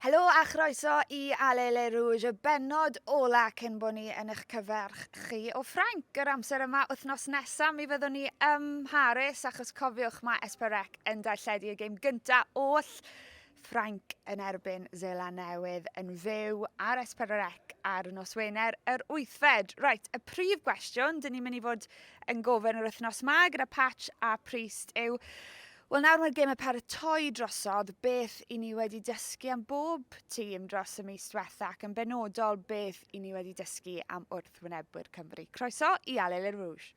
Helo a chroeso i Allez les Rouges, y bennod ola cyn bod ni yn eich cyferch chi o Ffrainc yr amser yma wythnos nesaf. Mi fyddwn ni ym Mharis achos cofiwch mae Esperec yn darlledu y gêm gyntaf oll Ffrainc yn erbyn Zeland Newydd yn fyw ar Esperec ar nos Wener yr wythfed. Reit, y prif gwestiwn dyn ni'n mynd i fod yn gofyn yr wythnos yma gyda Patch a Priest yw Wel nawr mae'r gemau paratoi drosodd, beth i ni wedi dysgu am bob tîm dros y mis diwetha ac yn benodol beth i ni wedi dysgu am wrthwynebwyr Cymru. Croeso i Allez les Rouges!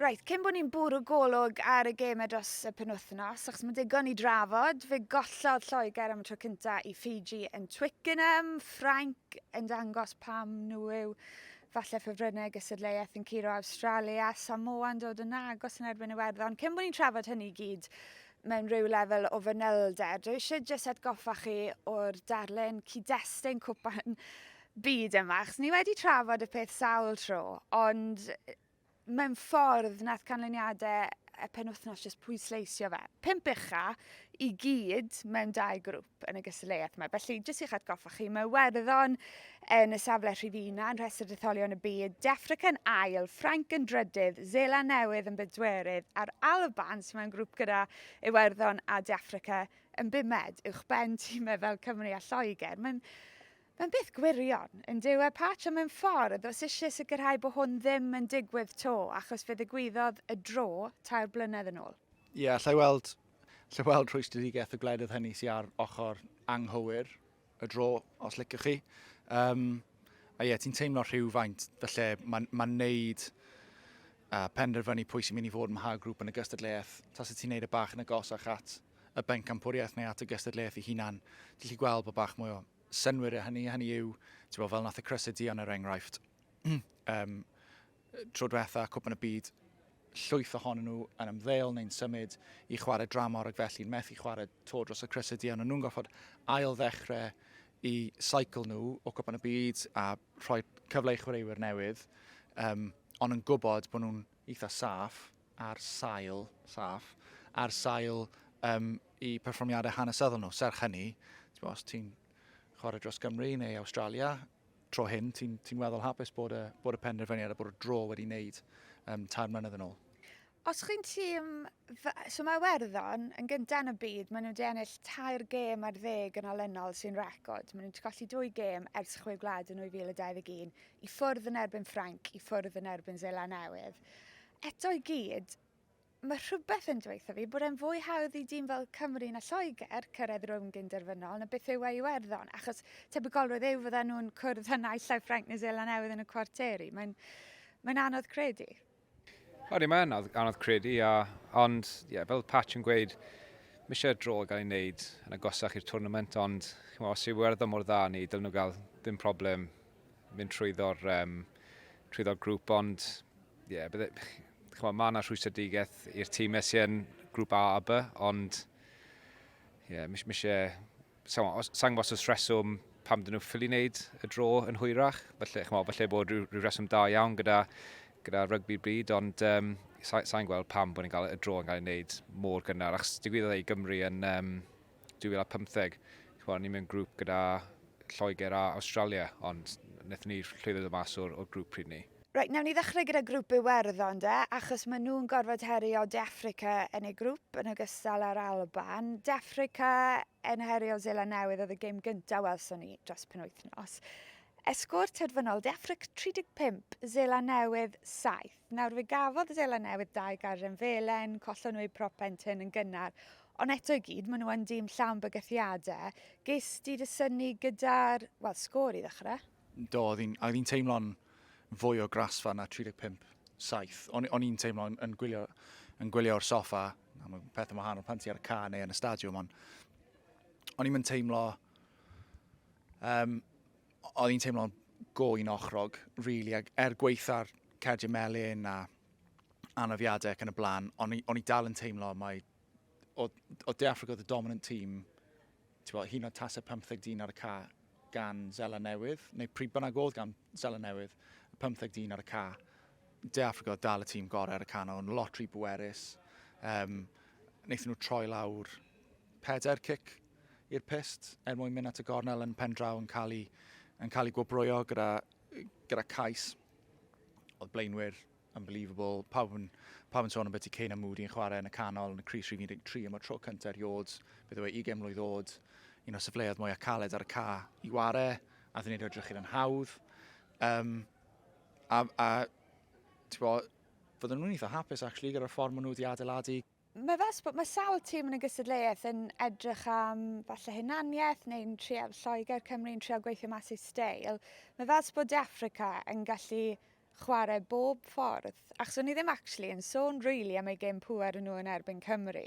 Reit, cyn bod ni'n bwrw golwg ar y gemau dros y penwythnos, achos mae'n digon i drafod, fe gollodd Lloegr am y tro cyntaf i Fiji yn Twickenham, Ffrainc yn dangos pam nhw yw Falle ffefrynnau gystadleuaeth yn curo Awstralia, Samoa yn dod yn agos yn erbyn Iwerddon. Cyn bod ni'n trafod hynny i gyd mewn rhyw lefel o fanylder, dwi eisiau jyst atgoffa chi o'r darlun cyd-destun cwpan byd yma, achos ni wedi trafod y peth sawl tro, ond mewn ffordd nath canlyniade y penwthnos jyst pwysleisio fe. Pump ucha i gyd mewn dau grŵp yn y gystadleuaeth yma. Felly, jyst i'ch atgoffa chi, mae Werddon yn y safle rhifina yn rhestr detholion y byd, Defric yn ail, Ffrainc yn drydydd, Zela Newydd yn bedwerydd, a'r Alban sy'n mewn grŵp gyda Iwerddon a Defrica yn bumed, uwch ben tîmau fel Cymru a Lloegr. Mae'n Mae'n beth gwirion, yndyw e, Patch, ond mewn ffordd, os isie sicrhau bo hwn ddim yn digwydd 'to, achos fe ddigwyddodd y dro tair blynedd yn ôl. Ie, allai weld, allai weld rhwystredigaeth y gwledydd hynny sy ar ochr anghywir y dro, os liciwch chi. Um, a ie, ti'n teimlo rhywfaint, felly mae'n ma neud uh, penderfynu pwy sy'n mynd i fod mha grŵp yn y gystadleuaeth. Tas y ti'n neud y e bach yn agosach at y bencampwriaeth neu at y gystadleuaeth ei hunan, ti'n lli gweld bod bach mwy o synnwyr o hynny, hynny yw, ti'n bod, fel nath y Crysau Dion er enghraifft, um, tro diwetha, Cwpan y Byd, llwyth ohonyn nhw yn ymddeol neu'n symud i chwarae dramor ac felly'n methu chwarae to dros y Crysau Dion, ond nhw'n goffod ail ddechrau i saicl nhw o Cwpan y Byd a rhoi cyfle i chwaraewyr newydd, um, ond yn gwybod bod nhw'n eitha saff, ar sail saff, ar sail um, i perfformiadau hanesyddol nhw. Serch hynny, ti'n os ti'n chwarae dros Gymru neu Australia, tro hyn, ti'n ti weddol hapus bod y, bod y penderfyniad a bod y dro wedi wneud um, tair mlynedd yn ôl. Os chi'n tîm... So mae Werddon yn gyntaf yn y byd, maen nhw wedi ennill tair gêm ar ddeg yn olynol sy'n record. Maen nhw wedi colli dwy gêm ers chwe gwlad yn 2021, i ffwrdd yn erbyn Ffrainc, i ffwrdd yn erbyn Zela Newydd. Eto i gyd, mae rhywbeth yn dweutha fi bod e'n fwy hawdd i dîm fel Cymru na Lloegr cyrraedd rownd gyn-derfynol na beth yw e i Iwerddon, achos tebygolrwydd yw fyddan nhw'n cwrdd â naill ai Ffrainc neu Seland Newydd yn y cwarteri. Mae'n mae'n anodd credu. Odi, mae'n anodd, anodd credu, a, ond ie, yeah, fel Patch yn gweud, mae eisiau dro gael ei wneud yn agosach i'r twrnament, ond chimo, os yw Iwerddon mor dda ni, dylen nhw gael ddim problem mynd trwyddo'r um, trwyddo grŵp, ond Ie, bydde, chymod, mae yna rhwystredigaeth i'r tîmau sy'n yn grŵp A a B, ond ie, mis, mis e, sa'n gwybod os reswm pam dyn nhw ffili wneud y dro yn hwyrach. Felly, chymod, felly bod rhyw, rhyw reswm da iawn gyda, gyda rygbi bryd, ond um, sa'n sa gweld pam bod ni'n cael y dro yn cael ei wneud mor gynnar. Ac digwyddodd ei Gymru yn, um, 2015, chwa, ni mewn grŵp gyda Lloegr a Australia, ond wnaethon ni llwyddo dod mas o'r, or grŵp pryd ni. Reit, newn ni ddechrau gyda grŵp Iwerddon de, achos maen nhw'n gorfod herio De Affrica yn eu grŵp yn ogystal â'r Alban. De Affrica yn herio Zela Newydd oedd y gêm gyntaf welson ni dros penwythnos. Esgor terfynol, De Affrica 35, Zela Newydd 7. Nawr, fe gafodd y Seland Newydd dau garrem felen, collon nhw eu propent hyn yn gynnar, ond eto i gyd, maen nhw yn dîm llawn bygythiadau. Ges di dy syni gyda'r, wel, sgôr i ddechrau? Do, oedd hi'n teimlo'n fwy o grasfa na 35 saith. O'n, on i'n teimlo yn, yn gwylio, yn gwylio o'r soffa, na, mae'n peth yn wahanol pan ti ar y ca neu yn y stadiwm, ond o'n i'n teimlo um, oedd hi'n teimlo'n go i'n ochrog, really, ac er gweitha'r cerdyn melyn a anafiadau ac yn y blaen, o'n i, on i dal yn teimlo mae o, o De Africa oedd y dominant tîm, ti'n bod, hyn o tasau 15 dyn ar y ca gan Zela Newydd, neu pryd bynnag oedd gan Zela Newydd, 15 dyn ar y ca. De Africa oedd dal y tîm gorau ar y can o'n lot rhy bwerus. Um, wnaethon nhw troi lawr pedair cic i'r pyst er mwyn mynd at y gornel yn pen draw yn cael ei, yn cael ei gwobrwyo gyda, gyda cais. Oedd blaenwyr unbelievable. Pawb yn, pawb yn sôn am beth i Kane a Moody yn chwarae yn y canol, yn y Cris Rhif 13, am y tro cyntaf erioed, beth yw e, 20 mlwydd oed, un o'r sefleoedd mwyaf caled ar y ca i ware, a ddyn ni'n edrych i'r hawdd. Um, a, a ti'n bod, fydden nhw'n eitha hapus, actually, gyda'r ffordd maen nhw wedi adeiladu. Mae fel bod mae sawl tîm yn y gystadleuaeth yn edrych am falle hunaniaeth neu'n trial Lloegr Cymru'n trial gweithio mas ei steil. Mae fel bod De Affrica yn gallu chwarae bob ffordd. Achos o'n i ddim actually yn sôn really am ei gêm pŵer nhw yn erbyn Cymru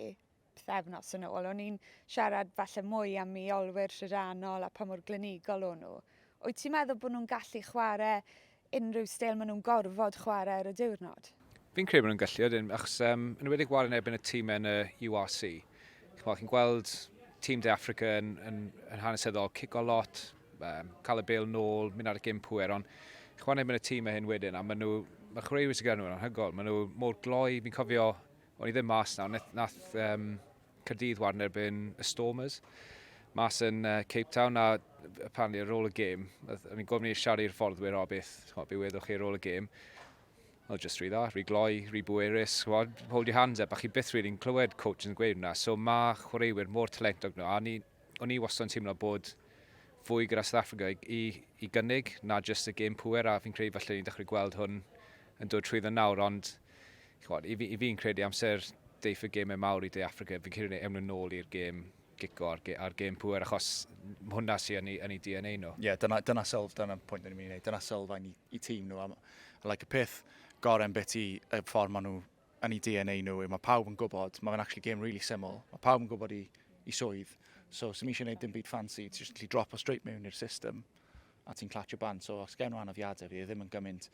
pethefnos yn ôl. O'n i'n siarad falle mwy am i olwyr rhydannol a pa mor glinigol o'n nhw. Wyt ti'n meddwl bod nhw'n gallu chwarae unrhyw stel maen nhw'n gorfod chwarae ar y diwrnod. Fi'n credu bod nhw'n gallu ydyn, achos um, yn wedi gwario yn erbyn y tîm yn y URC. Chymol, chi'n gweld tîm De Africa yn, yn, yn hanesyddol, cico lot, um, cael y bel nôl, mynd ar y gym pwer, ond chwan erbyn y tîm hyn wedyn, a maen nhw, mae chwaraewyr sy'n gyda nhw'n anhygol, maen nhw mor gloi, fi'n cofio, o'n i ddim mas nawr, nath, nath um, Caerdydd wan erbyn y Stormers mas yn uh, Cape Town a apparently ar ôl y gêm, o'n i'n gofyn i'r siarad i'r fforddwyr o beth, chwod, be weddwch chi ar ôl y gêm. Oedd just rhy dda, rhy gloi, rhy bwerus, chwod, hold your hands up, a chi byth rili'n clywed coach yn gweud hwnna. So mae chwaraewyr mor talentog nhw, a ni, o'n i wastad yn teimlo bod fwy gyda South Africa i, i gynnig na just y gêm pwer, a fi'n credu falle ni'n dechrau gweld hwn yn dod trwy dda nawr, ond ch'mod, i fi, i fi'n credu amser deiff y gemau mawr i De Affrica, fi'n credu ewn nhw'n ôl i'r gêm gico a'r, ge, ar gêm pŵer, achos hwnna sy'n yn yn ei DNA nhw. Ie, yeah, dyna, dyna sylf, dyna pwynt ni'n mynd i wneud, dyna sylfaen i, i tîm nhw. Am, like, y peth gorau beth i y ffordd maen nhw yn ei DNA nhw yw, mae pawb yn gwybod, mae fe'n actually game really syml, mae pawb yn gwybod i, i swydd, so sy'n eisiau gwneud dim byd fancy, ti'n just drop o straight mewn i'r system, a ti'n clatio band, so os gen nhw anafiadau, fi ddim yn gymaint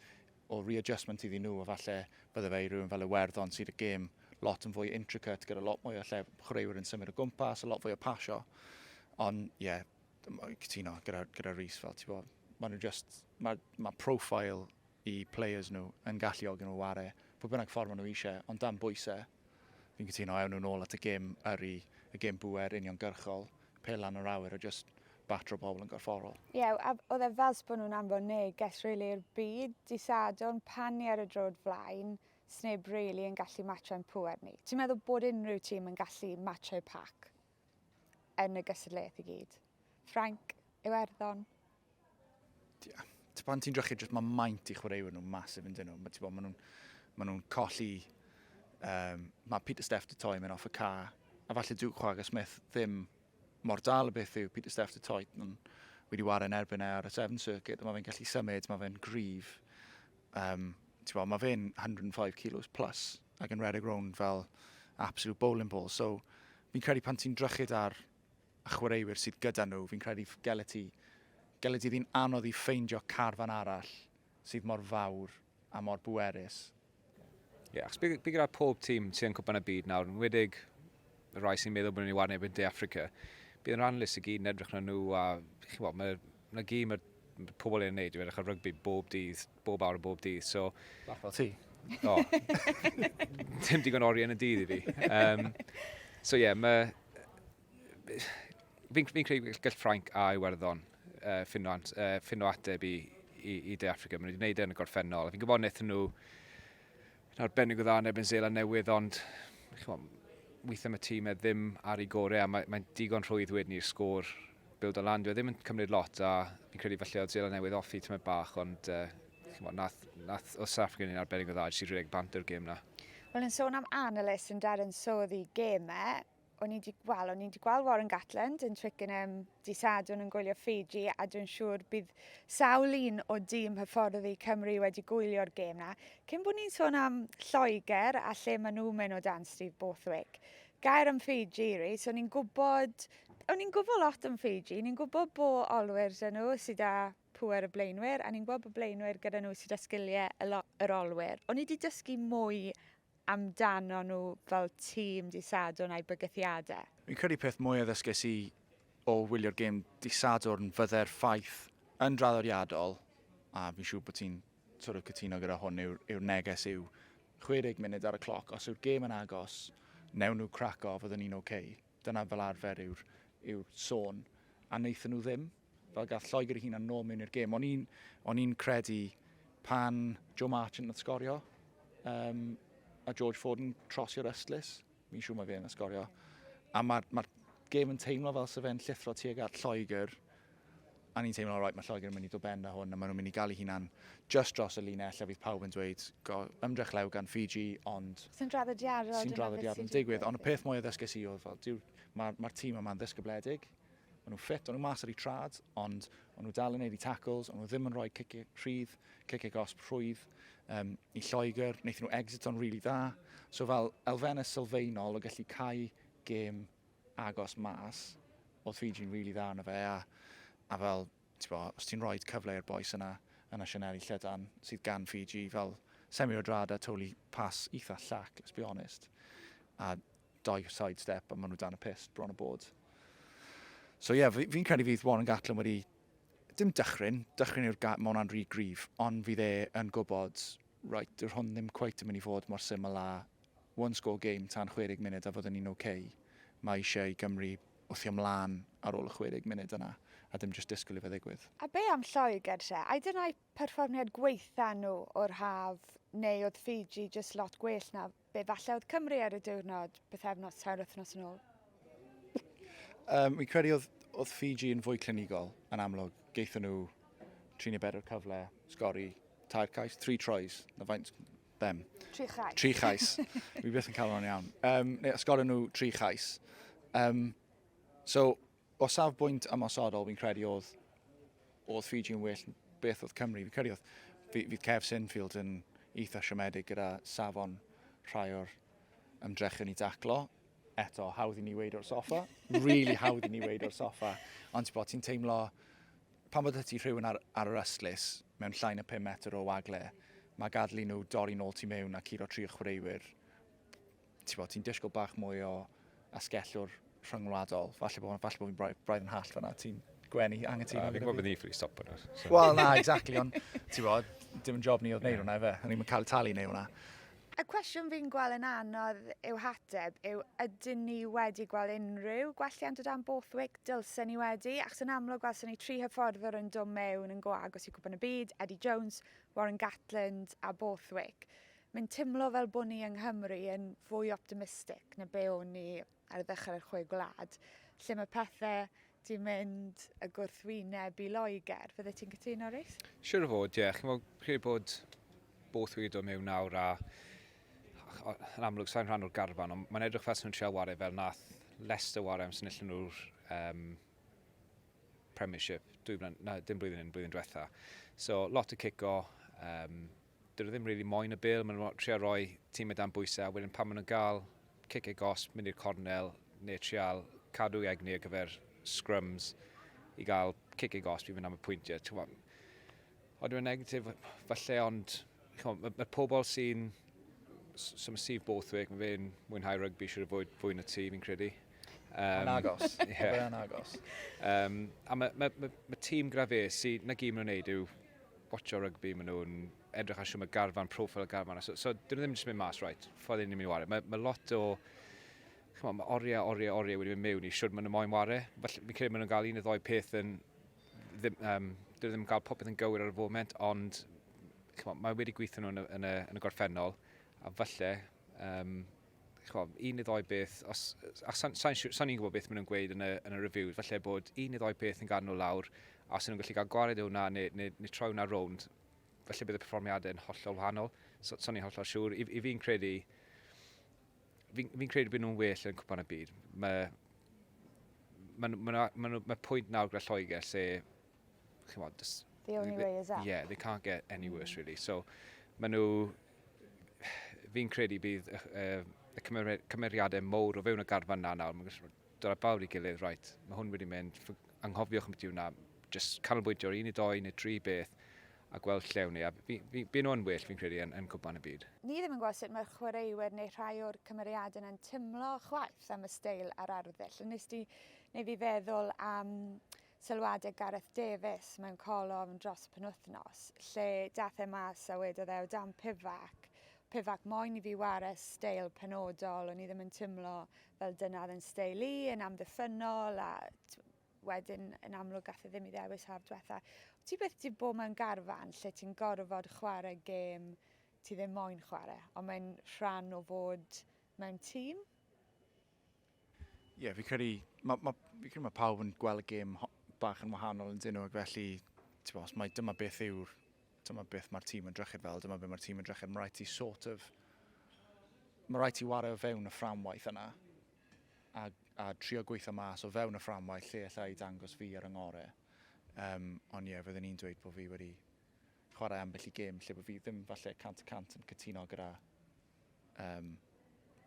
o readjustment iddyn nhw a falle bydde fe i rywun fel Iwerddon sydd y gêm lot yn fwy intricate gyda lot mwy o lle chwaraewyr yn symud o gwmpas, a lot fwy o pasio. Ond ie, yeah, cytuno gyda, gyda Rhys fel ti bod. Mae nhw just, mae ma profile i players nhw yn galluogi nhw ware, pwy bynnag ffordd maen nhw eisiau, ond dan bwysau, Fi'n cytuno, ewn nhw nôl at y gêm yrru, y gêm bŵer uniongyrchol, pel lan yr awyr a jyst batro pobl yn gorfforol. Ie, yeah, a oedd e fel bod nhw'n anfon neges rili i'r byd, dydd Sadwrn, pan ni ar y drod flaen, sneb rili yn gallu matsio ein pŵer ni. Ti'n meddwl bod unrhyw tîm yn gallu matsio eu pac? yn y gystadleuaeth i gyd. Ffrainc, Iwerddon. Pan ti'n drychu, jyst mae maint i chwaraewyr nhw masif yn dyn nhw. Mae nhw'n ma nhw colli... Um, mae Peter Steff di toi mewn off y ca. A falle dyw Chwaga Smith ddim mor dal y beth yw Peter Steff di toi. Nhw'n wedi wario yn erbyn e ar y Seven Circuit. Mae fe'n gallu symud, mae fe'n grif. Um, ti'n bod, mae fe'n 105 kilos plus ac yn redeg rownd fel absolute bowling ball. So, fi'n credu pan ti'n drychyd ar y chwaraewyr sydd gyda nhw, fi'n credu gelet ti, gelet ti ddyn anodd i ffeindio carfan arall sydd mor fawr a mor bwerus. Ie, yeah, achos bydd gyda pob tîm sy'n cwpan y byd nawr, yn wedig y rai sy'n meddwl bod nhw'n ei warneb yn De Africa, bydd yn rhanlus i gyd yn edrych na nhw a chi'n bod, mae 'na gyd mae'r pobl yn ei wneud yw edrych ar rygbi bob dydd, bob awr a bob dydd. So, Bach fel ti. O, dim digon oriau yn y dydd i fi. Um, so ie, yeah, mae... Fi'n fi credu gall Ffrainc a Iwerddon uh, ffinno, uh, ffinno ateb i, i, i De Africa. Maen nhw wedi gwneud e yn y gorffennol. Fi'n gwybod wnaethon nhw yn arbennig o dda yn ebyn Zeeland Newydd, ond weithiau mae tîm e ddim ar ei gorau a mae'n mae digon rhwydd wedyn i'r sgôr build o lan. Dwi e ddim yn cymryd lot a fi'n credu falle oedd Zeeland Newydd offi tymau bach, ond uh, chymod, nath, nath o South Africa yn arbennig o dda, jyst i rhedeg bant o'r gêm na. Wel, yn sôn am analyst yn Darren Sodd i gêm e, o'n i 'di, wel, o'n i 'di gweld Warren Gatland yn Twickenham di Sadwrn yn gwylio Fiji a dwi'n siŵr bydd sawl un o dîm hyfforddi Cymru wedi gwylio'r gêm na. Cyn bod ni'n sôn am Lloegr a lle maen nhw'n mynd o dan Steve Borthwick, gair am Fiji, Rhys, o'n i'n gwybod, o'n i'n gwybod lot am Fiji, ni'n gwybod bo olwyr dyn nhw sydd â pwer y blaenwyr, a ni'n gwybod bod blaenwyr gyda nhw sydd â sgiliau yr olwyr. O'n i wedi dysgu mwy amdanon nhw fel tîm dydd Sadwrn a'u bygythiadau? Fi'n credu peth mwya ddysges i o wylio'r gêm dydd Sadwrn fydde'r ffaith yn draddodiadol, a fi'n siŵr bod ti'n sort of cytuno gyda hwn, yw'r yw neges yw 60 munud ar y cloc, os yw'r gêm yn agos, newn nhw craco, fyddwn ni'n ok. Dyna fel arfer yw'r yw sôn, a wnaethon nhw ddim. Fel gath Lloegr ei hunan nôl mewn i'r gêm. O'n i'n on i credu pan Joe Marchant yn sgorio um, a George Ford yn trosio'r ystlus, mi'n siŵr mae fe yn sgorio. A mae'r ma, gêm yn teimlo fel sef e'n llithro tuag at Lloegr a ni'n teimlo, right, mae Lloegr yn mynd i dod ben a hwn, a maen nhw'n mynd i gael ei hunan just dros y linell, a fydd pawb yn dweud, go, ymdrech lew gan Fiji, ond... Sy'n draddodiadol. Sy'n draddodiadol yn digwydd, ond y peth mwy o ddysges i oedd, fel, mae'r ma tîm yma'n ddysgybledig, Maen nhw'n ffit, o'n nhw mas ar eu trad, ond o'n nhw dal yn neud i tackles, o'n nhw ddim yn rhoi cic rhydd, cic gosb rhwydd um, i Lloegr, wnaethon nhw exit o'n rili really dda. So fel elfennau sylfaenol o gallu cael gêm agos mas, oedd Fiji'n rili really dda yna fe, a, a fel, bo, os ti'n rhoi cyfle i'r boes yna, yna Sianeli Llydan, sydd gan Fiji, fel semi o drad a toli pas eitha llac, let's be honest. A Dau side step a maen nhw dan y pist bron y bod. So ie, yeah, fi'n credu fydd Warren Gatlin wedi... Dim dychryn, dychryn yw'r gair, mae hwnna'n rhy grif, ond fydd e yn gwybod, right, dyw'r hwn ddim cweit yn mynd i fod mor syml a one score game tan 60 munud a fyddwn ni'n oce. Okay. Mae eisiau i Gymru wthio mlaen ar ôl y 60 munud yna, a dim jyst disgwyl i fe ddigwydd. A be am Lloegr se? A dyna'i perfformiad gweitha nhw o'r haf, neu oedd Fiji jyst lot gwell na Be falle oedd Cymru ar y diwrnod, bythefnos, tair wythnos yn ôl? Um, fi'n credu oedd, oedd Fiji yn fwy clinigol, yn amlwg. Geithon nhw tri neu bedair cyfle, sgori tair cais, tri troes, na faint bem. Tri chais. Tri chais. Mi beth yn cael o'n iawn. Um, neu, sgori nhw tri chais. Um, so, O safbwynt ymosodol, fi'n credu oedd, oedd Fiji yn well beth oedd Cymru. Fi'n credu oedd, fydd Kev Sinfield yn eitha siomedig gyda safon rhai o'r ymdrechion i daclo. Eto, hawdd i ni weid o'r soffa. really hawdd i ni weid o'r soffa. Ond ti'n bod, ti'n teimlo, pan bod ti rhywun ar, ar yr ystlus mewn llain y 5 metr o wagle, mae gadlu nhw dorri nôl ti mewn a curo tri o chwaraewyr Ti'n bod, ti'n disgwyl bach mwy o asgellwr rhyngwladol. Falle bod, falle bod fi'n braidd, braidd yn hall fanna. Ti'n gwenu angytuno? Uh, fi'n gwybod bod ni ffri stop yna. So. Wel, na, exactly, ond ti'n bod, dim yn job ni oedd neud hwnna, efe. O'n i'n cael talu neud hwnna. Y cwestiwn fi'n gweld yn anodd yw hateb yw ydyn ni wedi gweld unrhyw gwelliant o dan Borthwick? Dylse ni wedi, achos yn amlwg gwelson ni tri hyfforddwr yn dod mewn yn go agos i gwpan y byd, Eddie Jones, Warren Gatland a Borthwick. Mae'n teimlo fel bod ni yng Nghymru yn fwy optimistic na be o'n ni ar ddechrau'r Chwe Gwlad, lle mae pethau di mynd y gwrthwyneb i Loegr. Fydde ti'n cytuno, Rees? Siwr o fod, ie. Yeah. Chi'n meddwl, credu bod both wedi dod mewn nawr a yn amlwg sa'n rhan o'r garfan, ond mae'n edrych fel sy'n nhw'n treol wario fel nath Leicester wario am sy'n illyn nhw'r um, Premiership, dwy blynedd, na, dim blwyddyn yn blwyddyn diwetha. So, lot o cico, um, Dyn nhw ddim rili moyn y bêl, maen nhw'n trial roi tîm o dan bwysau a wedyn pan maen nhw'n gael cic e gosb, mynd i'r cornel neu trial cadw egni ar gyfer scrums i gael cic e gosb i fynd am y pwyntiau. Ti'n gwybod, ond yw'n negatif falle ond mae ma pobl sy'n so mae Steve Borthwick, mae fe'n mwynhau rygbi siwr o fod fwy na ti fi'n credu. Um, yn agos. Yeah. yn agos. Um, a mae ma, ma, ma tîm gyda fe sy'n na gym nhw'n neud yw watcho rygbi, maen nhw'n edrych ar siw mae garfan, profil y garfan. So, so dyn nhw ddim jyst mynd mas, right, ffordd ni'n mynd i wario. Mae, mae lot o, chyma, mae oriau, oriau, oriau wedi mynd mewn i siwr maen nhw moyn wario. Felly, fi'n credu maen nhw'n cael un o ddoi peth yn, ddim, um, dyn nhw ddim yn cael popeth yn gywir ar y foment, ond chyma, mae wedi gweithio nhw yn y, yn y, yn y gorffennol, a falle, um, ch'mod, un neu ddou beth, os, a sa'n sa sa ni'n gwybod beth maen nhw'n gweud yn y, yn y reviews, falle bod un neu ddou peth yn gael nhw lawr, a os nhw'n gallu cael gwared o hwnna neu, neu, neu troi hwnna rownd, falle bydd y perfformiadau yn hollol wahanol. So, so ni'n hollol siŵr. I, i fi'n credu, fi'n fi credu bod nhw'n well yn cwpan y byd. Mae ma, ma, ma, ma, ma pwynt nawr gyda Lloegr lle chymod, just... The only they, way is up. Yeah, they can't get any worse, mm. really. So, maen nhw... Fi'n credu bydd y, uh, y cymeriadau mowr o fewn y garfan na nawr. Mae'n gallu dod â bawr i gilydd, right, mae hwn wedi mynd, anghofiwch am beth yw hwnna, just canolbwyntio ar un neu doi neu tri beth a gweld lle wni. A fi, nhw'n well, fi'n credu, yn, yn cwpan y byd. Ni ddim yn gweld sut mae'r chwaraewyr neu rhai o'r cymeriadau yna'n tymlo chwaith am y steil a'r arddull. Nes di neu fi feddwl am Sylwade Gareth Davies mewn colofn dros y penwythnos, lle dath e mas a wedodd e o dan Pivac, Pivac moyn i fi ware steil penodol, o'n i ddim yn timlo fel dyna oedd yn steil i, yn amddiffynnol a wedyn yn amlwg gath e ddim i ddewis haf dwetha. Wyt ti byth di bod mewn garfan lle ti'n gorfod chware gêm ti ddim moyn chware, ond mae'n rhan o fod mewn tîm? Ie, fi credu, ma, ma, fi credu mae pawb yn gweld y gêm bach yn wahanol yn dyn nhw, ac felly, ti'n os mae dyma beth yw'r, dyma beth mae'r tîm yn drychyd fel, dyma beth mae'r tîm yn drychyd, mae rhaid ti sort of, mae rhaid ti wario o fewn y fframwaith yna, a, a trio gweithio mas o fewn y fframwaith lle allai dangos fi ar yngore. Um, ond ie, yeah, fyddwn i'n dweud bod fi wedi chwarae ambell i gêm lle bod fi ddim falle 100% yn cytuno gyda um,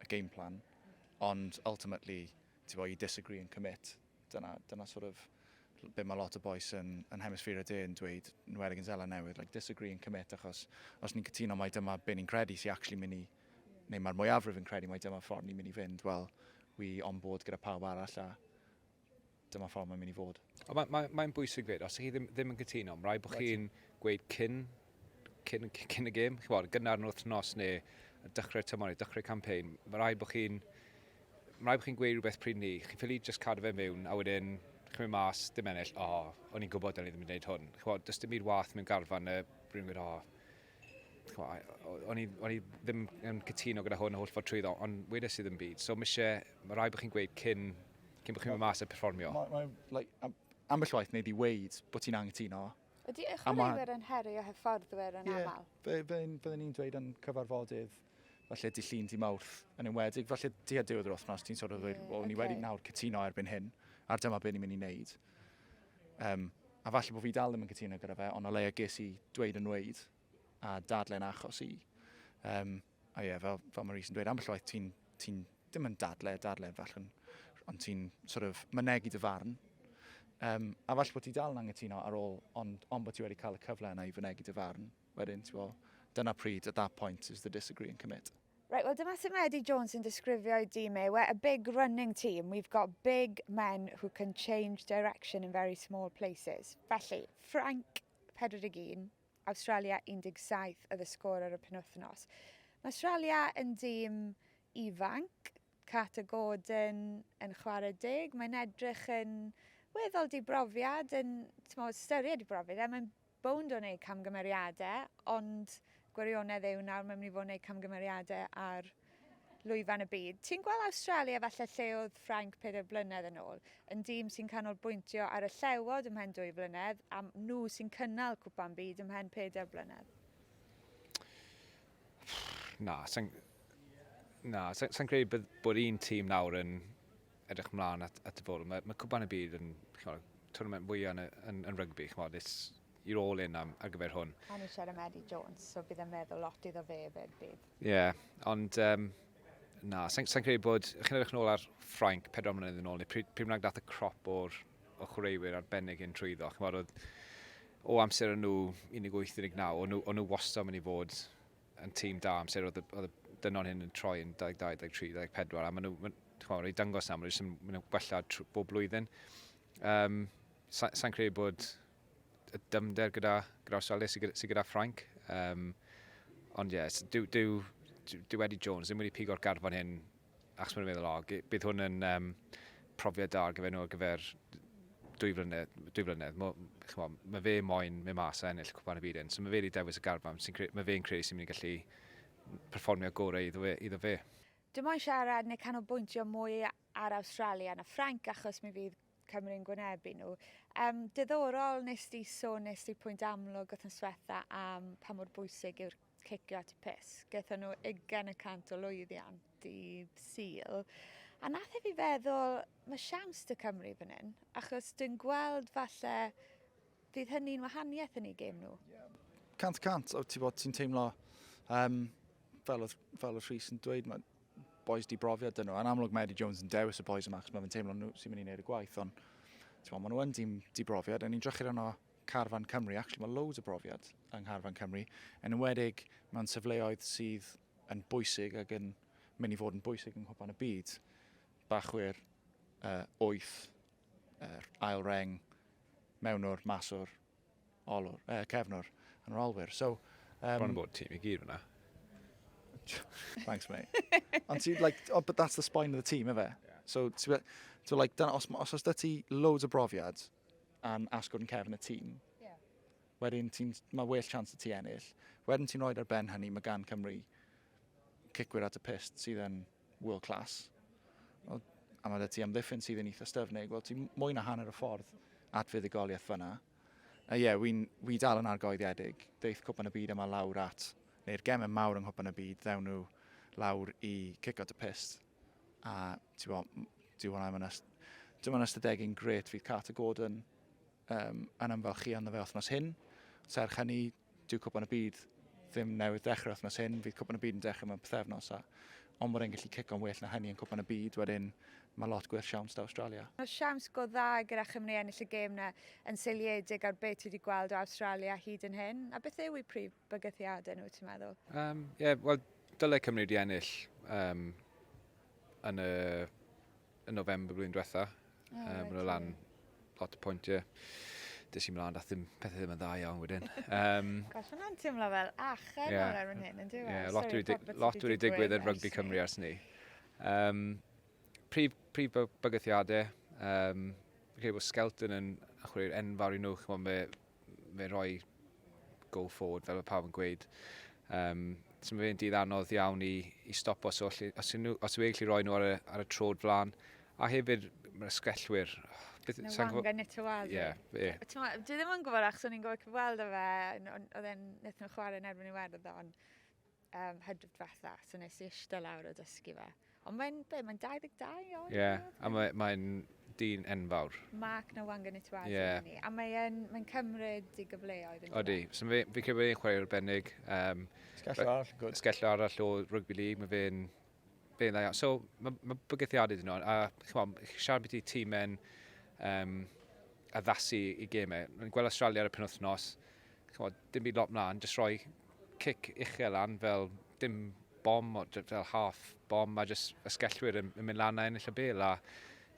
a game plan, ond ultimately, ti'n bod, you disagree and commit. Dyna, dyna sort of be mae lot o boes yn, yn hemisffer y de yn dweud, yn wedig yn Zeland Newydd, like disagree and commit, achos os ni'n cytuno mai dyma be ni'n credu sy'n actually mynd i, neu mae'r mwyafrif yn credu mai dyma ffordd ni'n mynd i fynd, wel, wi on board gyda pawb arall a Dyma ffordd mae'n mynd i fod. Ond mae'n mae, mae bwysig fyd, os chi ddim, ddim yn cytuno, mae'n rhaid bod chi'n gweud cyn, cyn, cyn y gêm, chi'n bod, gynnar yn wythnos neu dechrau'r tymor neu dechrau campaign, mae'n rhaid bod chi'n mae rhaid bod chi'n gweud rhywbeth pryd ni. Chi'n ffili just cadw fe mewn a wedyn chi'n mynd mas, dim ennill, o, oh, o'n i'n gwybod o'n i ddim yn gwneud hwn. Chi'n gwybod, does dim byd wath mewn garfan y rhywun gwneud, o, oh, o'n i, on i ddim yn cytuno gyda hwn a holl ffordd trwyddo, ond wedi sydd yn byd. So mae eisiau, mae rhaid bod chi'n gweud cyn cyn bod chi'n mynd mas a perfformio? Mae, mae, like, am, ambell waith wneud i weid bod ti'n anghytuno. Ydy eich chwaraewyr yn heri a hyfforddwyr yn yeah, aml? Ie, byddwn ni'n dweud yn cyfarfodydd falle di llun di mawrth yn enwedig, falle di a diwedd yr wythnos ti'n sort of dweud, yeah, well, okay. ni wedi nawr cytuno erbyn hyn, ar dyma beth ni'n mynd i wneud. Um, a falle bod fi dal ddim yn cytuno gyda fe, ond o leia ges i dweud yn weid a dadlen achos i. Um, A ie, fel, fel mae Rhys yn dweud, ambell waith ti'n, ti ddim yn dadle, dadle yn fach, ond ti'n sort of mynegu dy farn. Um, a falle bod ti dal yn angytuno ar ôl, ond, ond bod ti wedi cael y cyfle yna i fynegu dy farn. Wedyn, ti'n bod, dyna pryd, at that point, is the disagree and commit. Right, well, dyma sut mae Eddie Jones yn disgrifio i dîm e. We're a big running team. We've got big men who can change direction in very small places. Felly, Frank, 41, Awstralia 17 oedd y sgôr ar y penwythnos. Mae Awstralia yn dîm ifanc, Carter Gordon yn chwarae deg, mae'n edrych yn weddol dibrofiad, yn mo, styried dibrofiad, e, mae'n bownd o wneud camgymeriadau, ond gwirionedd yw nawr mae'n mynd i fod yn gwneud camgymeriadau ar lwyfan y byd. Ti'n gweld Awstralia falle lle oedd Ffrainc pedair blynedd yn ôl, yn dîm sy'n canolbwyntio ar y llewod ymhen dwy flynedd a nhw sy'n cynnal Cwpan Byd ymhen pedair blynedd? Na, sa'n na, sa, sa credu bod, bod un tîm nawr yn edrych mlaen at, at y bwrw. Mae, mae Cwpan y Byd yn chymod, tournament fwyaf yn, yn, yn rygbi. Chymod, it's, you're all in am, ar gyfer hwn. A ni siarad am Eddie Jones, so bydd yn meddwl lot iddo fe fyd bydd. Ie, yeah, ond um, na, sa'n sa credu bod, chi'n edrych nôl ar Ffrainc, pedro mlynedd yn ôl, neu pryd, pryd bynnag dath y crop o'r o chwaraewyr arbennig yn trwyddo. Chi'n bod, oedd, o amser yn nhw 18-19, o'n nhw, nhw wastad mynd i fod yn tîm da amser oedd, oedd y dynon hyn yn troi yn 22, 23, 24, a maen nhw, maen nhw wedi dangos na, maen nhw wedi gwella bob blwyddyn. Um, Sa'n sa credu bod y dymder gyda, gyda Australia sydd gyda, sy gyda Ffrainc. Um, ond ie, yes, dyw, dyw, dyw Eddie Jones ddim wedi pigo'r garfan hyn achos mae'n meddwl, o, bydd hwn yn um, profiad da ar gyfer nhw ar gyfer dwy flynedd. Dwy flynedd. Mo, chmo, mae fe moyn mynd mas a ennill cwpan y byd hyn. So mae fe wedi dewis y garfan. Mae fe'n credu sy'n mynd i gallu perfformio gorau iddo fe. Iddo fe. Dim ond siarad neu canolbwyntio mwy ar Australia na Ffrainc achos mi fydd Cymru'n gwynebu nhw. Um, diddorol, nes di sôn, nes di pwynt amlwg wrth yn swetha am pa mor bwysig yw'r cicio at y pus. Gaethon nhw 20 y cant o lwyddiant dydd Sul. A nath e fi feddwl, mae siawns dy Cymru fan hyn, achos dwi'n gweld falle fydd hynny'n wahaniaeth yn ei gêm nhw. Cant cant, o ti bod ti'n teimlo, um, fel, oedd, fel oedd Rhys yn dweud, mae boys di brofiad dyn nhw. Yn amlwg mae Eddie Jones yn dewis y boys yma, achos mae fe'n teimlo nhw sy'n mynd i wneud y gwaith, ond ti'n maen nhw yn dim di brofiad, a ni'n drychyd yno Carfan Cymru, actually mae loads o brofiad yng Ngharfan Cymru, yn ymwedig mewn sefleoedd sydd yn bwysig ac yn mynd i fod yn bwysig yng Nghwpan y Byd. Bachwyr, uh, oeth, uh, ail reng, mewnwr, maswr, olwr, uh, cefnwr yn yr olwyr. So, um, Bron yn bod tîm i gyd fyna. Thanks, mate. Ond ti, like, oh, but that's the spine of the team, efe? Yeah. So, ti, so like, dan, os, os oes da ti loads o brofiad yn asgwrn cefn y tîm, yeah. wedyn ti'n, mae well chance y ti ennill. Wedyn ti'n rhoi ar ben hynny, mae gan Cymru cicwyr at y pist sydd yn... Yn world class, wel, a mae da ti amddiffyn sydd yn eitha styfnig, wel, ti'n mwy na hanner y ffordd at fuddugoliaeth fyna. A ie, yeah, wy'n wy dal yn argoeddiedig. Deith Cwpan y Byd yma lawr at, neu'r gemau mawr yng Nghwpan y Byd, ddewn nhw lawr i cico dy pist. A ti'n bod, dwi'n hwnna yma Dyma yn ystadegu'n gret fydd Carter Gordon um, yn ymfalchio ynddo fe othnos hyn. Serch hynny, Dyw Cwpan y Byd ddim newydd dechrau wythnos hyn, fydd Cwpan y Byd yn dechrau mewn pethefnos a ond bod e'n gallu cico'n well na hynny yn Cwpan y Byd, wedyn mae lot gwell siawns da Awstralia. Mae siawns go dda gyda Chymru ennill y gêm na, yn seiliedig ar beth ti wedi gweld o Awstralia hyd yn hyn, a beth yw eu prif bygythiadau nhw, ti'n meddwl? Um, yeah, wel, dylai Cymru wedi ennill um, yn y yn November blwyddyn diwetha. Oh, um, right, nhw lan lot o pwyntiau. Dys i mlaen, dath ddim pethau ddim yn dda iawn wedyn. Um, Gosh, hwnna'n teimlo fel achen yeah. o'r erbyn hyn, yn dweud? Yeah, lot wedi dig, lot wedi digwydd yn rygbi Cymru ers ni. Um, prif, prif bygythiadau, um, credu bod Skelton yn achwyrio'r enfawr i nhw, chymod, fe roi go forward fel mae pawb yn gweud. Um, so mae fe'n dydd anodd iawn i, i stop os, os, os, nhw, os yw'n gallu roi nhw ar y, ar y trod flan. A hefyd, mae'r sgellwyr... Beth, Na wang yn y tywad. Ie, ie. Dwi ddim yn gwybod achos o'n i'n gwybod cyfweld o fe, oedd e'n nethon nhw chwarae yn erbyn i Iwerddon. um, hydref diwetha, so nes i eistedd lawr a dysgu fe. Ond mae'n, be, mae'n 22 oed? Ie, yeah, a mae'n mae dyn enfawr. Mark na Wangan i Tuazi yeah. ni. A mae'n mae cymryd i gyfleoedd yn Odi, so fe, fi credu bod e'n chwarae arbennig. Um, sgello arall, good. Sgello arall o rugby league, mae fe'n Be'n dda iawn. So, mae ma bygythiadau dyn nhw, a chymod, siarad beth i tîm yn um, addasu i gemau. Rwy'n gweld Australia ar y penwthnos, chymod, dim byd lot mlaen, jyst rhoi cic uchel lan fel dim bom, fel half bom, mae jyst ysgellwyr yn, yn mynd lan a ennill y bel, a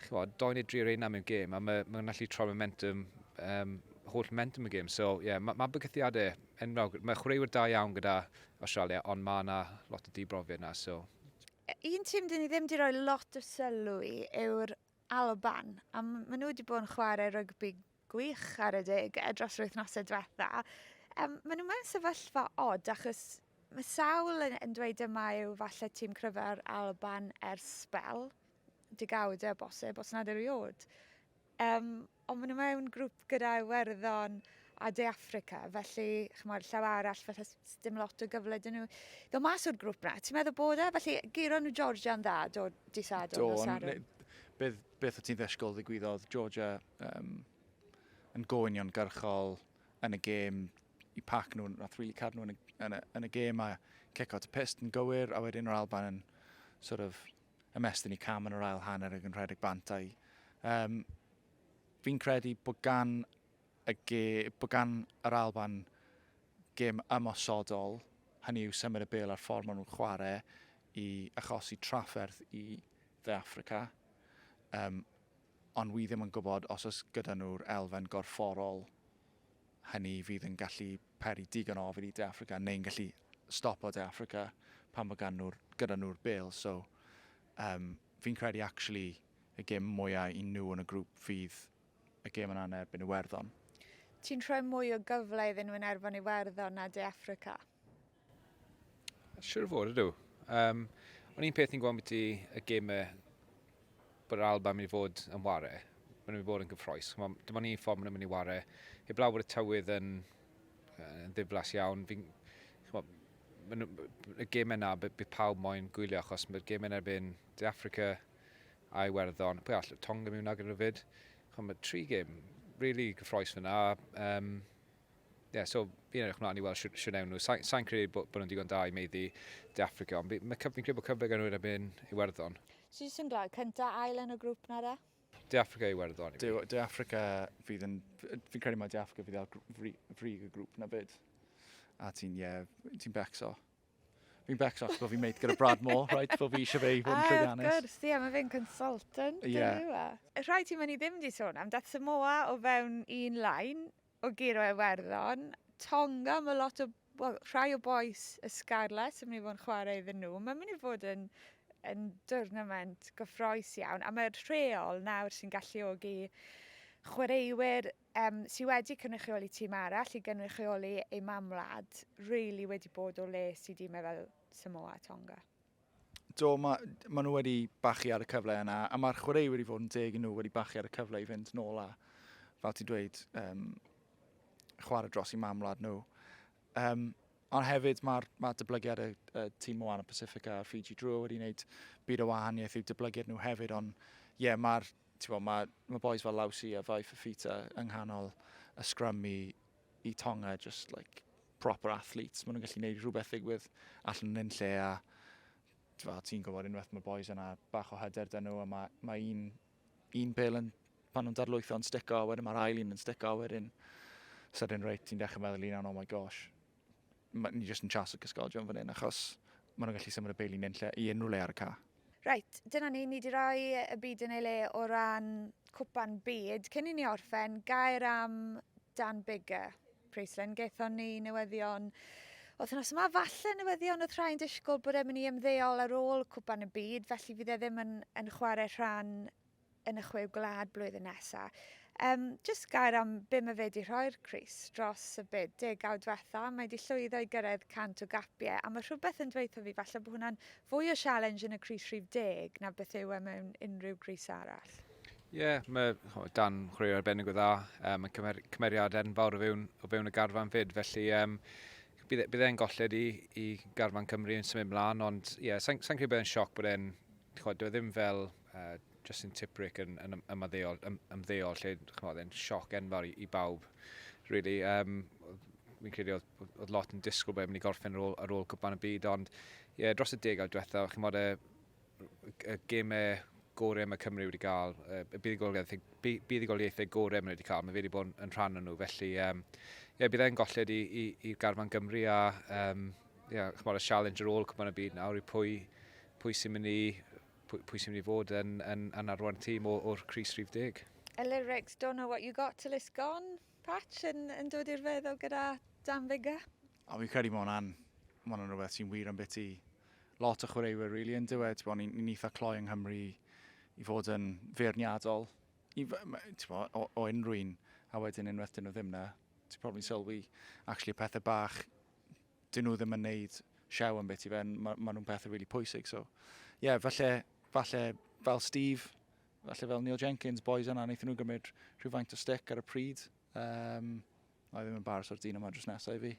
chymod, do'n i dri ar eina mewn gêm, a mae'n ma gallu troi momentum, um, holl momentum y gêm. So, ie, yeah, mae ma bygythiadau enwog, mae chwaraewyr da iawn gyda Awstralia ond ma na lot o dibrofiad na so. Un tim dyn ni ddim di roi lot o sylw i yw'r Alban a ma nhw wedi bod yn chwarae rygbi gwych ar y deg e, dros yr wythnosau diwetha. Um, ma nhw mewn sefyllfa od achos mae sawl yn, yn dweud yma yw falle tîm cryfa'r Alban ers spel, digawdau o bosib, os nad eriod. Yym, ond maen nhw mewn grŵp gyda Iwerddon a De Affrica, felly, chymod, llaw arall, felly dim lot o gyfle dyn nhw ddod mas o'r grŵp na. Ti'n meddwl bod e? Felly, giro nhw Georgia'n dda, do, di Sadwrn, do, nos Sadwrn. Beth, beth o ti'n ddesgol ddigwyddodd Georgia um, yn gofynion garchol yn y gêm i pac nhw, a thrili cad nhw yn y, yn y, yn y gêm a ceco at y pist yn gywir, a wedyn yr Alban yn sort of ymestyn i cam yn yr ail hanner ag yn rhedeg bant a'i. Um, fi'n credu bod gan, y ge, bod gan yr Alban gym ymosodol, hynny yw symud y bel ar ffordd maen nhw'n chwarae i achosi trafferth i dde Africa. Um, ond wy ddim yn gwybod os oes gyda nhw'r elfen gorfforol Hynny fydd yn gallu peri digon o ofid i De Affrica neu'n gallu stopo De Affrica pan fo gan nhw'r, gyda nhw'r bêl. So, um, fi'n credu actually y gêm mwyaf i nhw yn y grŵp fydd y gêm yna yn erbyn Iwerddon. Ti'n rhoi mwy o gyfle iddyn nhw yn erbyn Iwerddon na De Affrica? Siwr o fod ydw. Um, ond un peth ni'n gweld beth i y gemau bod yr Alba yn mynd i fod yn ware. Mae'n mynd i fod yn gyffroes. Dim ond un ffordd mae'n mynd i ware. Heb law bod y tywydd yn, yn ddiflas iawn. Fi'n y gem yna, bydd pawb moyn gwylio, achos mae'r gem yna erbyn De Africa a Iwerddon. Pwy all, Tonga mi wna gyda'n rhywfyd. Chwa, mae tri gem, really gyffroes fyna. Um, yeah, so fi'n edrych mlaen i weld siwr, siwr newn nhw. Sa'n sa credu bod, bod nhw'n digon da i meiddi De Africa, ond mae cyf, fi'n credu bod cyfle gan nhw erbyn Iwerddon. Sy'n sy'n glad, cynta ail yn y grŵp na da? De Africa i Iwerddon. De, De Africa fydd yn... Fi'n credu mae De Africa fydd ar frig fri y grŵp na fyd. A ti'n, ie, yeah, ti'n becso. Fi'n becso achos bod fi'n meid gyda Brad Moore, right? Bod fi eisiau fe i fod yn ah, llwyddiannus. Ah, gwrs, ie, mae fe'n consultant. Ie. Yeah. Rhaid ti mynd i ddim di sôn am dat Samoa o fewn un lain, o guro Iwerddon, Tonga, mae lot o, wel, rhai o boes y Scarlets yn mynd i fod yn chwarae iddyn nhw. Mae'n mynd i fod yn, yn dwrnament gyffroes iawn, a mae'r rheol nawr sy'n galluogi chwaraewyr um, sydd wedi cynrychioli tîm arall i gynrychioli ei mam wlad, really wedi bod o les i dîmau fel Samoa a Tonga. Do, mae, ma nhw wedi bachu ar y cyfle yna, a mae'r chwaraewyr wedi fod yn deg i nhw wedi bachu ar y cyfle i fynd nôl a, fel ti'n dweud, um, chwarae dros i mamlad nhw. Um, ond hefyd mae'r ma dyblygiad y, y tîm o Anna Pacifica a Fiji Drua wedi gwneud byd o wahaniaeth i'w dyblygiad nhw hefyd, ond ie, yeah, mae'r mae ma boys fel Lawsi a Fai Fafita yng nghanol y sgrym i, i Tonga, just like proper athletes, maen nhw'n gallu gwneud rhywbeth ddigwydd allan yn un lle a ti'n gwybod unwaith mae boys yna bach o hyder dyn nhw a mae, mae un, un pel yn, pan nhw'n darlwytho yn stico a wedyn mae'r ail un yn stico a wedyn sydyn reit ti'n dechrau meddwl un oh my gosh ni jyst yn chas y cysgodion fan hyn achos maen nhw'n gallu symud y pel i, lle, i unrhyw le ar y ca. Reit, dyna ni, ni di roi y byd yn ei le o ran cwpan byd. Cyn i ni orffen, gair am Dan Bigger, Priestland. Gaethon ni newyddion wythnos yma, falle newyddion oedd rhai'n disgwyl bod e'n mynd i ymddeol ar ôl cwpan y byd, felly fydd e ddim yn, yn chwarae rhan yn y chwe gwlad blwyddyn nesa. Um, just gair am be mae fe wedi rhoi'r Cris dros y byd degawd diwetha. Mae wedi llwyddo i gyrraedd 100 o gapiau, a mae rhywbeth yn dweithio fi falle bod hwnna'n fwy o sialens yn y Cris rhif deg na beth yw e mewn unrhyw Cris arall. Ie, yeah, mae oh, dan chwaraewr arbennig o dda. Um, mae cymer, cymeriad enfawr o fewn, o fewn y garfan fyd, felly um, bydd, e, bydd e'n golled i, i garfan Cymru yn symud mlaen, ond ie, yeah, sa'n sain credu bod e'n sioc bod e'n chod, dwi e ddim fel uh, Justin Tiprick yn, yn ymddeol, ym, ymddeol lle, chymod, e'n sioc enfawr i, i bawb, really. Um, fi'n credu oedd, oedd lot yn disgwyl bod e'n mynd i gorffen ar ôl, ar ôl cwpan y byd, ond ie, yeah, dros y degawd diwethaf, chymod, y, y gemau gorau mae Cymru wedi cael, y buddugoliaethau, buddugoliaethau gorau mae wedi cael, mae fe wedi bod yn rhan o'n nhw, felly um, yeah, bydd e'n golled i, i, i garfan Gymru a um, yeah, chymod, y challenge ar ôl cwpan y byd nawr i pwy, pwy sy'n mynd i Pwy, pwy sy'n mynd i fod yn, yn, yn arwain tîm o, o'r Cris Rhif Deg? Lyrics, don't know what you got till it's gone. Patch yn, yn dod i'r feddwl gyda Dan Biggar. O, fi'n credu mae hwnna'n, mae hwnna'n rhywbeth sy'n wir am beth i lot o chwaraewyr, really, yn dweud. Ti'n bod, ni'n ni eitha cloi yng Nghymru i fod yn feirniadol i, bo, o, o unrhyw un, a wedyn unwaith dyn nhw ddim na, ti'n probably sylwi, actually, pethau bach dyn nhw ddim yn neud siaw am beth i fe, mae ma nhw'n pethau really pwysig. So, ie, yeah, falle, falle fel Steve, falle fel Neil Jenkins, boys yna, wnaethon nhw gymryd rhywfaint o stick ar y pryd. Um, Mae ddim yn baros o'r dyn yma dros nesau i fi.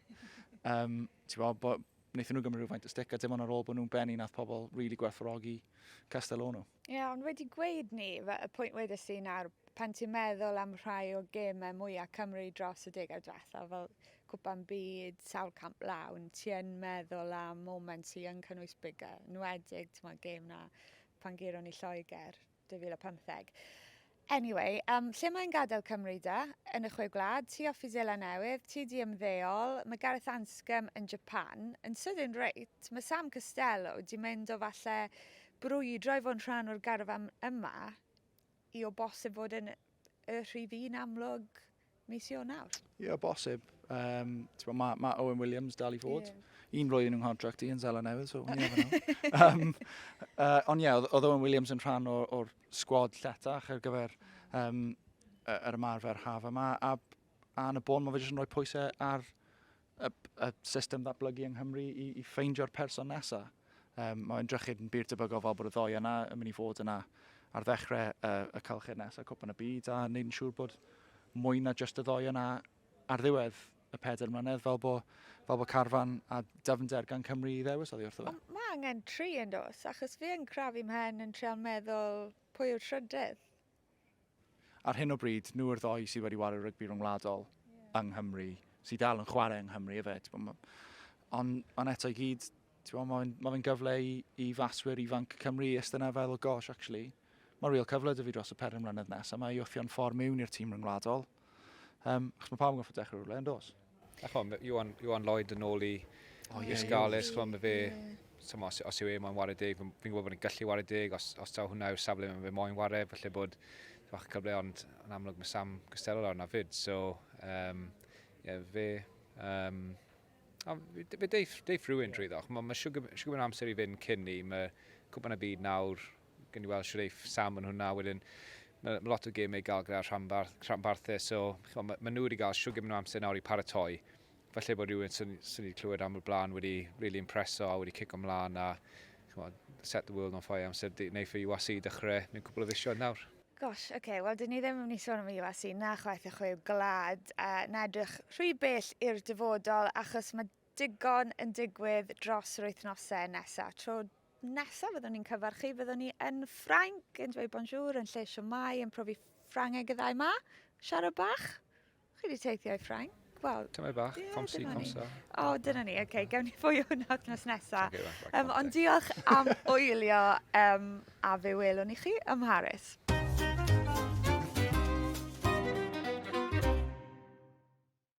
Um, Ti'n bod, bo, wnaethon nhw gymryd rhywfaint o stick, a dim ond ar ôl bod nhw'n benni nath pobl really gwerthfawrogi Castellano. Ie, ond wedi gweud 'ny, fe- y pwynt wedes di nawr, pan ti'n meddwl am rhai o gêmau mwya' Cymru dros y degau dwetha, fel Cwpan Byd, sawl camp lawn, ti yn meddwl am moments sy yn cynnwys bigger, 'nwedig, t'mod, gêm 'na pan guro ni Lloegr 2015. Anyway, um, lle mae'n gadael Cymru da? Yn y Chwe Gwlad, ti off i Zela Newydd, ti di ymddeol, mae Gareth Anscombe yn Japan, yn sydyn reit, mae Sam Costello di mynd o falle brwydro i fod yn rhan o'r garfan yma i o bosib fod yn y rhif un amlwg mis Ionawr? Ie, yeah, bosib. Um, mae ma Owen Williams dal i fod. Yeah. Un flwyddyn yn contract i yn Zela Newydd, so ni efo um, uh, Ond ie, yeah, oedd Owen Williams yn rhan o'r, or sgwad lletach ar gyfer um, yr ymarfer haf yma. A, a yn y bôn, mae fe jyst yn rhoi pwysau ar y, y system ddatblygu yng Nghymru i, i ffeindio'r person nesaf. Um, mae'n drychyd yn byd tebygol fel bod y ddoi yna yn mynd i fod yna ar ddechrau uh, y calchyd nesaf cwpan y byd a wneud yn siŵr bod mwy na just y ddoi yna ar ddiwedd y pedair mlynedd fel bod, fel bod carfan a dyfnder gan Cymru i ddewis oddi wrtho fe. Mae angen tri yn dos, achos fi yn crafu mhen yn treol meddwl pwy yw'r trydydd. Ar hyn o bryd, nhw yw'r ddoi sydd wedi wario rygbi rhyngwladol yeah. yng Nghymru, sydd dal yn chwarae yng Nghymru efyd. Ond on eto i gyd, mae fe'n ma gyfle i, i faswyr ifanc Cymru ystyn a fel o gosh, actually, mae real cyfle dy fi dros y peren mlynedd nes, a mae i wthio'n ffordd mewn i'r tîm rhyngwladol. Um, chos mae pawb yn goffa dechrau rhywle, yn dos. A chom, Iwan, Iwan Lloyd yn ôl i oh, yeah, Scarlets, chom, fe... Yeah. Som, os, os yw e moyn wario deg, fi'n gwybod bod yn gallu wario deg, os, os taw hwnna yw'r safle fe moyn wario, felly bod fach y cyfle, ond yn amlwg mae Sam Costello lawr na fyd, so um, yeah, fe... Um, a, fe deif, deif rhywun drwy ddoch, mae ma siwgr yn amser i fynd cyn ni, mae cwpan y byd nawr gen i weld Shreif, Sam yn hwnna, wedyn mae ma lot o gemau i gael gyda rhanbarth, rhanbarthau, so mae ma nhw wedi cael siwg yn amser nawr i paratoi. Falle bod rhywun sy'n sy wedi clywed am y blaen wedi really impreso a wedi cic ymlaen a chymod, set the world on fire amser neu fy UAC i dechrau mewn cwbl o fisioedd nawr. Gosh, oce, okay. wel dyn ni ddim yn mynd i sôn am y UAC na chwaith y chwe gwlad a na edrych rhy bell i'r dyfodol achos mae digon yn digwydd dros yr wythnosau nesaf. Tro Nesaf fyddwn ni'n cyfarchu, fyddwn ni yn Ffrainc, yn dweud bonjour, yn lle siomai, yn profi Ffrangeg y ddau ma. Siarad bach. Chi wedi teithio i Ffrainc? Wel, Tymau bach, yeah, comsi, comsa. O, oh, dyna ni. Oce, okay, gawn ni fwy o hwnna wrthnos nesaf. Um, ond diolch am wylio um, a fe welwn i chi ym Mharis.